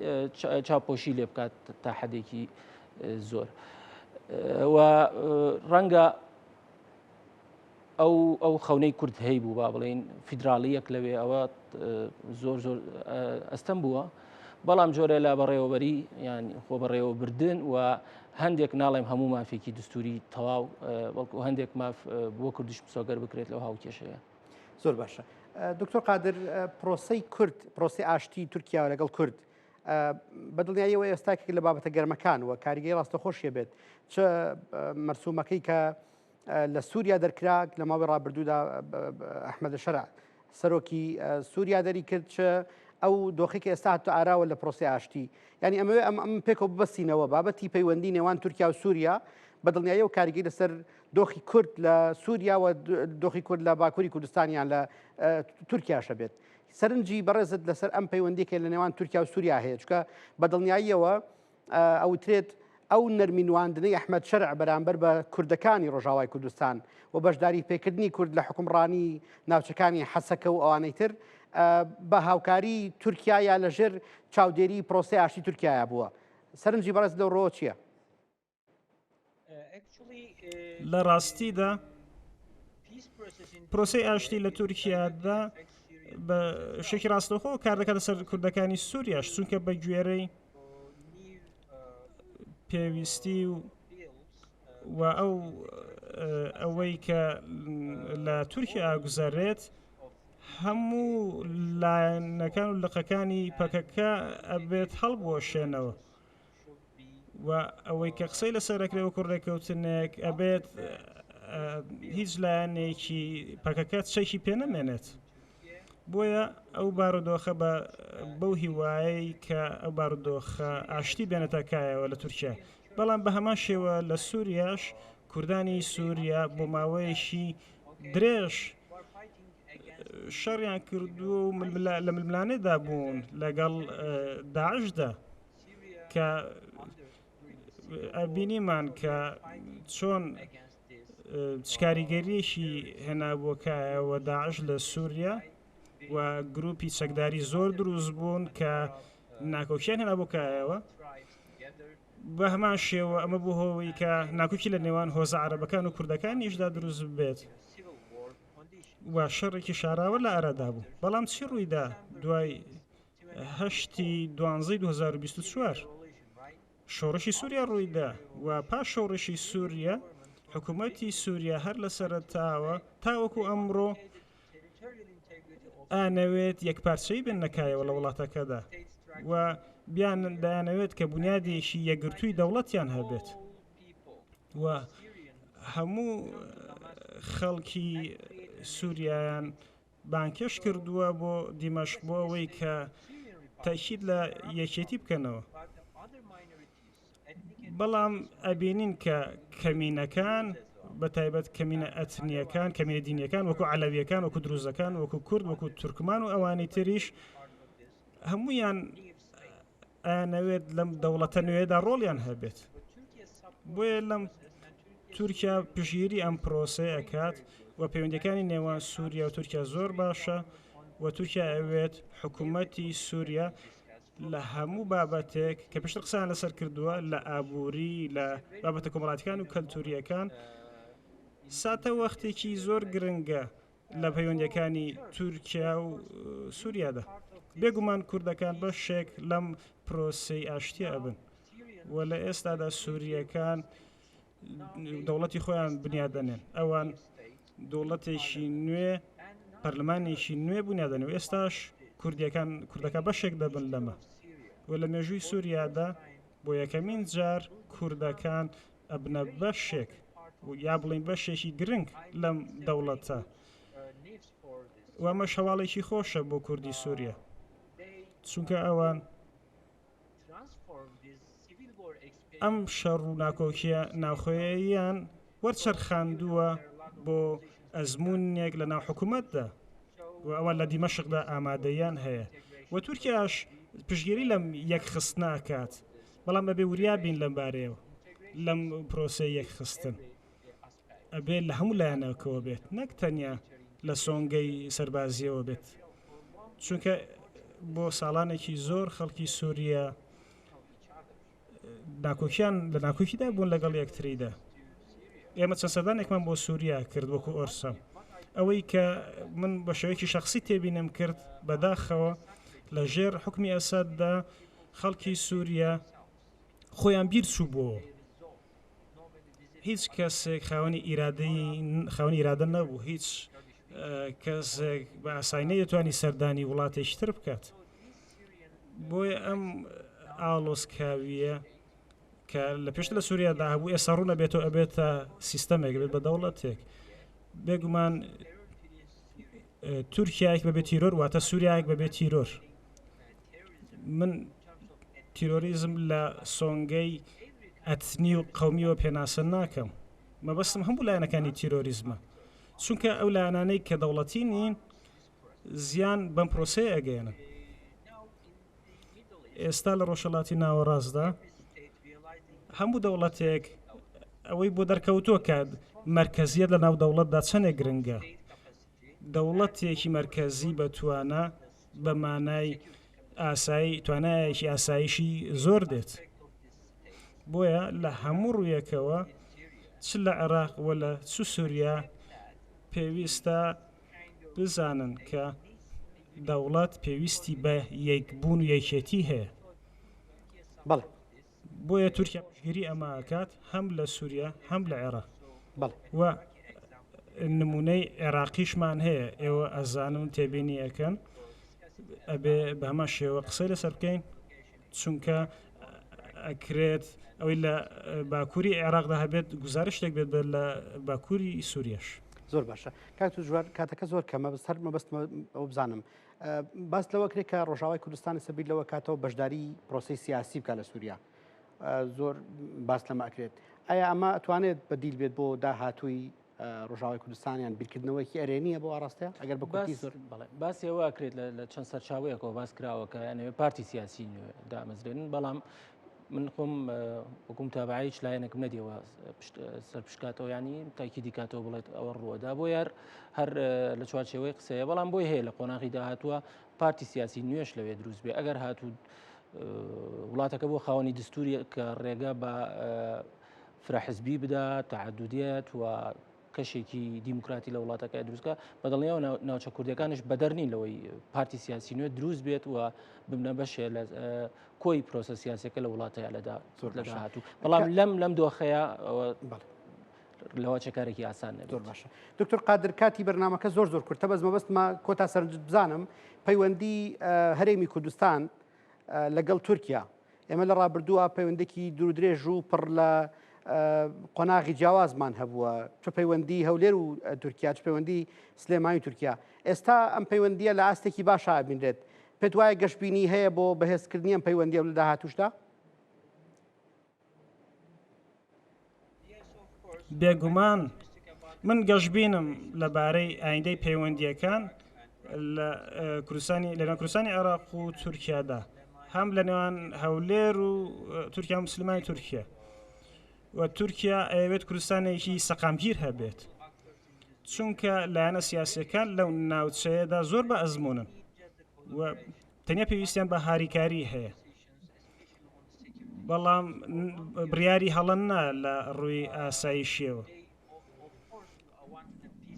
چاپۆشی لێ بکات تا حەدێکی زۆر ڕەنگە ئەو ئەو خەونەی کورد هەی بوو با بڵین فیدراالیەک لەوێ ئەوە زۆر زۆر ئەستەم بووە بەڵام جۆرە لە بەڕێوەبەری یان خۆ بەڕێوە بردن و هەندێک ناڵێم هەموو مافێکی دستوری تەواو بەڵکو هەندێک ماف بۆ کوردش پسۆگەر بکرێت لەو هاوکێشەیە زۆر باشە
دکتۆر قادر پرۆسی کورد پرۆسی ئاشتی تورکیا لەگەڵ کورد بە دڵنیاییەوە ئێستاکێک لە بابەتە گەرمەکان و کاریگەی ڕاستە خۆشیە بێت چ مەرسومەکەی کە لە سووریا دەرکراک لە ماوەی ڕابردوودا ئەحمد لە شەرع سەرۆکی سووریا دەری کرد چ ئەو دۆخێکی ئێستا هاتە ئاراوە لە پرۆسی ئاشتی ینی ئەمەوێ ئەم ئەم پێکەوە ببەستینەوە بابەتی پەیوەندی نێوان تورکیا و سووریا بە دڵنیایی و کاریگەی لەسەر دۆخی کورد لە سووریا و دۆخی کورد لە باکووری کوردستانیان لە تورکیاشە بێت سەرنجی بەڕێزت لەسەر ئەم پەیوەندیکە لە نێوان تورکیا و سووریا هەیە چکە بە دڵنیاییەوە ئەوترێت ئەو نەرمینواندنەی ئەحمد شەرع بەرامبەر بە کوردەکانی ڕۆژاوای کوردستان و بەشداری پێکردنی کورد لە حکومڕانی ناوچەکانی حەسەکە و ئەوانەی تر بە هاوکاری تورکیا یا لەژێر چاودێری پرۆسی ئاشتی تورکایە بووە سەرنجی بەڕێز لەو ڕۆ چییە؟
لە ڕاستیدا پرۆسی ئاشتی لە تورکیادا بە شێکی ڕاستەخۆ کار دەکاتە سەر کوردەکانی سووریاش چونکە بە گوێرەی پێویستی و و ئەو ئەوەی کە لە تورکیا ئاگوزارێت هەموو لایەنەکان و لقەکانی پەکەکە ئەبێت هەڵبوەشێنەوە و ئەوەی کە قسەی لەسەر ئەکرێ وەکو ڕێکەوتنێک ئەبێت هیچ لایەنێکی پەکەکە چەکی پێ نەمێنێت بۆیە ئەو بارودۆخە بە بەو هیوایەی کە ئەو بارودۆخە ئاشتی بێنێتە کایەوە لە تورکیا بەڵام بە هەمان شێوە لە سووریاش کوردانی سووریا بۆ ماوەیەکی درێژ شەڕیان کردووە و لە ململانێدا بوون لەگەڵ داعشدا کە ئەبینیمان کە چۆن شکاریگەریەکی هێنابووکایەوە داعش لە سووریا و گروپی چەکداری زۆر دروست بوون کە ناکۆکیان هێنا بۆکایەوە بە هەمان شێوە ئەمە بوو هۆی کە ناکوکی لە نێوان هۆزە عربەکان و کوردەکان نیشدا دروست بێت و شەڕێکی شاراوە لە ئارادا بوو بەڵام چی ڕوویدا دوای هەشتی دوانزەی 2024 شۆڕشی سووریا ڕوویدا و پاش شۆڕشی سووریا حکوومەتی سووریا هەر لە سەرتاوە تاوەکو ئەمڕۆ ئانەوێت یەکپارچەی بن نەکایەوە لە وڵاتەکەدا و بیان دایانەوێت کە بنیادێکی یەگرتووی دەوڵەتیان هەبێت و هەموو خەڵکی سووریایان بانگهێشت کردووە بۆ دیمەشق بۆ ئەوەی کە تەئکید لە یەکێتی بکەنەوە بەڵام ئەبینین کە کەمینەکان بە تایبەت کەمینە ئەتنیەکان کەمینە دینیەکان وەکو علەویەکان وەکو دروزەکان وەکو کورد وەکو تورکمان و ئەوانی تریش هەمویان ئەیانەوێت لەم دەوڵەتە نوێدا ڕۆڵیان هەبێت بۆیە لەم تورکیا پژگیری ئەم پرۆسەیە کات و پەیوەندەکانی نێوان سووریا و تورکیا زۆر باشە و تورکیا ئەوێت حکوومەتی سووریا لە هەموو بابەتێک کە پێشتر قسان لەسەر کردووە لە ئابووری لە بابەتە کۆمەڵاتەکان و کەلتوریەکان ساتە وەختێکی زۆر گرنگە لە پەیوەندەکانی تورکیا و سووریادا بێگومان کوردەکان بە شێک لەم پرۆسی ئاشتیە ئەبن و لە ئێستادا سووریەکان دەوڵەتی خۆیان بنیادەنێن ئەوان دەوڵەتێکی نوێ پەرلمانێکی نوێ بوونیادەن و ئێستاش کوردیەکان کوردەکە بەشێک دەبن لەمە و لە مێژووی سووریادا بۆ یەکەمین جار کوردەکان ئەبنە بەشێک یا بڵین بەشێکی گرنگ لەم دەوڵەتە وەمەش هەواڵێکی خۆشە بۆ کوردی سووریە چونکە ئەوان ئەم شەڕ و ناکۆکیە ناوخۆیان وەرچەرخاندووە بۆ ئەزمونێک لە ناو حکوومەتدا و ئەوە لە دیمەشقدا ئامادەیان هەیە و تورکیاش پشگیری لەم یەک خستناکات بەڵام ئەبێ وریا بین لەم بارەیەوە لەم پرۆسەی یەکخستن ئەبێت لە هەموو لایەنەکەەوە بێت نەک تەنیا لە سۆنگەی سەربازیەوە بێت چونکە بۆ ساڵانێکی زۆر خەڵکی سووریە ناکۆکیان لە ناکۆکیدا بوون لەگەڵ یەکتریدا ئێمە چە سەدانێکمان بۆ سووریا کرد وەکو ئۆرسە ئەوەی کە من بە شێوەیەکی شخصی تێبینم کرد بەداخەوە لە ژێر حکمی ئەساددا خەڵکی سوریا خۆیان بیر چووبۆوە هیچ کەسێک خاوەنی ئیرادەی خاوەنی ئیرادە نەبوو هیچ کەسێک بە ئاسایی نەیەتوانی سەردانی وڵاتێکی تر بکات بۆیە ئەم ئاڵۆسکاویە کە لە پێشتر لە سووریادا هەبوو ئێستا ڕوونە بێتەوە ئەبێتە سیستەمێک بێت بە دەوڵەتێک بێگومان تورکیایك بەبێت تیرۆر واتە سووریایك بەبێت تیرۆر من تیرۆریزم لە سۆنگەی ئەتنی و قومیەوە پێناسە ناکەم مەبەستم هەموو لایەنەکانی تیرۆریزمە چونکە ئەو لایەنانەی کە دەوڵەتی نین زیان بەم پرۆسەیە ئەگەێنە ئێستا لە ڕۆژەڵاتی ناوەڕاستدا هەموو دەوڵەتێک ئەوەی بۆ دەرکەوتووە کە مرکزیت لە ناو دەوڵەتدا چەندێک گرنگە دەوڵەتێکی مرکزی بەتوانە بە مانای ئاسایی توانایەکی ئاسایشی زۆر دێت بۆیە لە هەموو ڕوویەکەوە چ لە عێراق و لە چ سووریا پێویستە بزانن کە دەوڵەت پێویستی بە یەکبوون و یەکێتی هەیە
بەڵێ
بۆیە تورکیا پشگیری ئەمە ئەکات هەم لە سووریا هەم لە عێراق و نمونەی عێراقیشمان هەیە ئێوە ئەزانن تێبینی ئەەکەن ئەبێ بە هەمە شێوە قسەی لەسەر بکەین چونکە ئەکرێت ئەوەی لە باکووری عێراقدا هەبێت گزارشتێک بێت لە باکووری سووریش زۆر باشە
کاک جوار کاتەکە زۆر کەمە بەسەر مەبەستمە ئەو بزانم باس لەوە کرێت کە ڕۆژاوای کوردستان لەسەر بیر لەوە کاتەوە بەشداری پرۆسی سیاسی بکە لە سووریا زۆر باس لەمە ئەکرێت ئایا ئەمە ئەتوانێت بەدیل بێت بۆ داهاتووی ڕژاوی کوردستانیان بیرکردنەوەیکی ئەرێنیە بۆ ئاراستە ئەگەر بە باسیەوە کرێت
لە چەند سەرچاوەیەکەوە باس کراوەکە یانەوە پارتی سیاسی دامەزرێنن بەڵام من خۆم وەکو متابعە هیچ لایەنێکم نەدیەوە سەرپشکاتەوە ینی تاکی دیکاتەوە بڵێت ئەوە ڕووەدا بۆ یار هەر لە چوارچەوەی قسەیە بەڵام بۆی هەیە لە قۆناغی داهاتوە پارتی سیاسی نوێش لەوێ دروست بێ ئەگەر هاتوو وڵاتەکە بۆ خاوەنی دستوری کە ڕێگە بە فرەحزبی بدا تعدودیت و کەشێکی دیموکراتی لە وڵاتەکە دروستکە بەدڵنیەوە ناوچە کوردەکانش بەدەر نین لەوەی پارتی سیاسی نوێ دروست بێت و ببنە بەشێ لە کۆی پرۆسە سیاسەکە لە وڵاتەیە لەدا زۆر لە هاتوو بەڵام لەم لەم دۆخەیە لەوە چەکارێکی ئاسان زۆر باشە دکتور
قادر کاتی بەرنمەکە زۆر زۆر کورتە بەس مەبەستمە کۆتا سەرنج بزانم پەیوەندی هەرێمی کوردستان لەگەڵ تورکیا ئێمە لە ڕابردووە پەیوەندێکی دوورودرێژ و پڕ لە قۆناغی جیاوازمان هەبووە چ پەیوەندی هەولێر و تورکیا چ پەیوەندی سلێمانی تورکیا ئێستا ئەم پەیوەندیە لە ئاستێکی باشا بینرێت پێت وایە گەشتبینی هەیە بۆ بەهێزکردنی ئەم پەیوەندی و لە داهاتوشدا
بێگومان من گەشببینم لەبارەی ئایندەی پەیوەندیەکان لە کوردستانی لەنە کوردستانی عێراق و تورکیادا هەم لە نێوان هەولێر و تورکیا مسلمانی تورکیا و تورکیا ئەوێت کوردستانێکی سەقامگیر هەبێت چونکە لایەنە سیاسەکان لەو ناوچەیەدا زۆر بە ئەزمونن و تەنیا پێویستیان بە هاریکاری هەیە بەڵام بڕیاری هەڵەنا لە ڕووی ئاسایشیەوە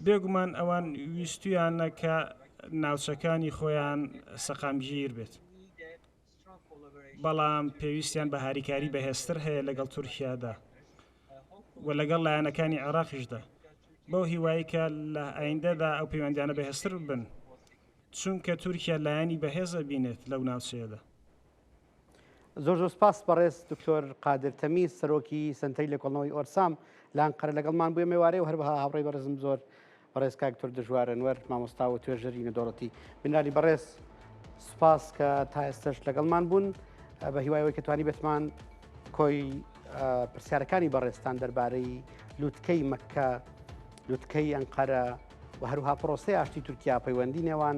بێگومان ئەوان ویستویانە کە ناوچەکانی خۆیان سەقامگیر بێت بەڵام پێویستیان بە هاریکاری بەهێزتر هەیە لەگەڵ تورکیادا و لەگەڵ لایەنەکانی عێراقیشدا بەو هیوایکە لە ئایندەدا ئەو پەیوەندیانە بەهێزتر بن چونکە تورکیا لایەنی بەهێزە بینێت لەو ناوچەیەدا زۆر
زۆر سپاس بەڕێز دکتۆر قادر تەمی سەرۆکی سنتەری لێکۆڵنەوەی ئۆرسام لە ئەنقەرە لەگەڵمان بووە مێوارەی و هەروەها هاوڕێی بەڕێزم زۆر بەڕێز کاکتۆر دژوارەنوەر مامۆستا و توێژەری نەدۆڵەتی بنالی بەڕێز سپاس کە تا ئێستش لەگەڵمان بوون بە هیوایەوەی کە توانی بێتمان کۆی پرسیارەکانی بەڕێستان دەربارەی لووتکەی مەکە لووتکەی ئەنقەرە و هەروها پرۆسی ئاشتی تورکیا پەیوەندی نێوان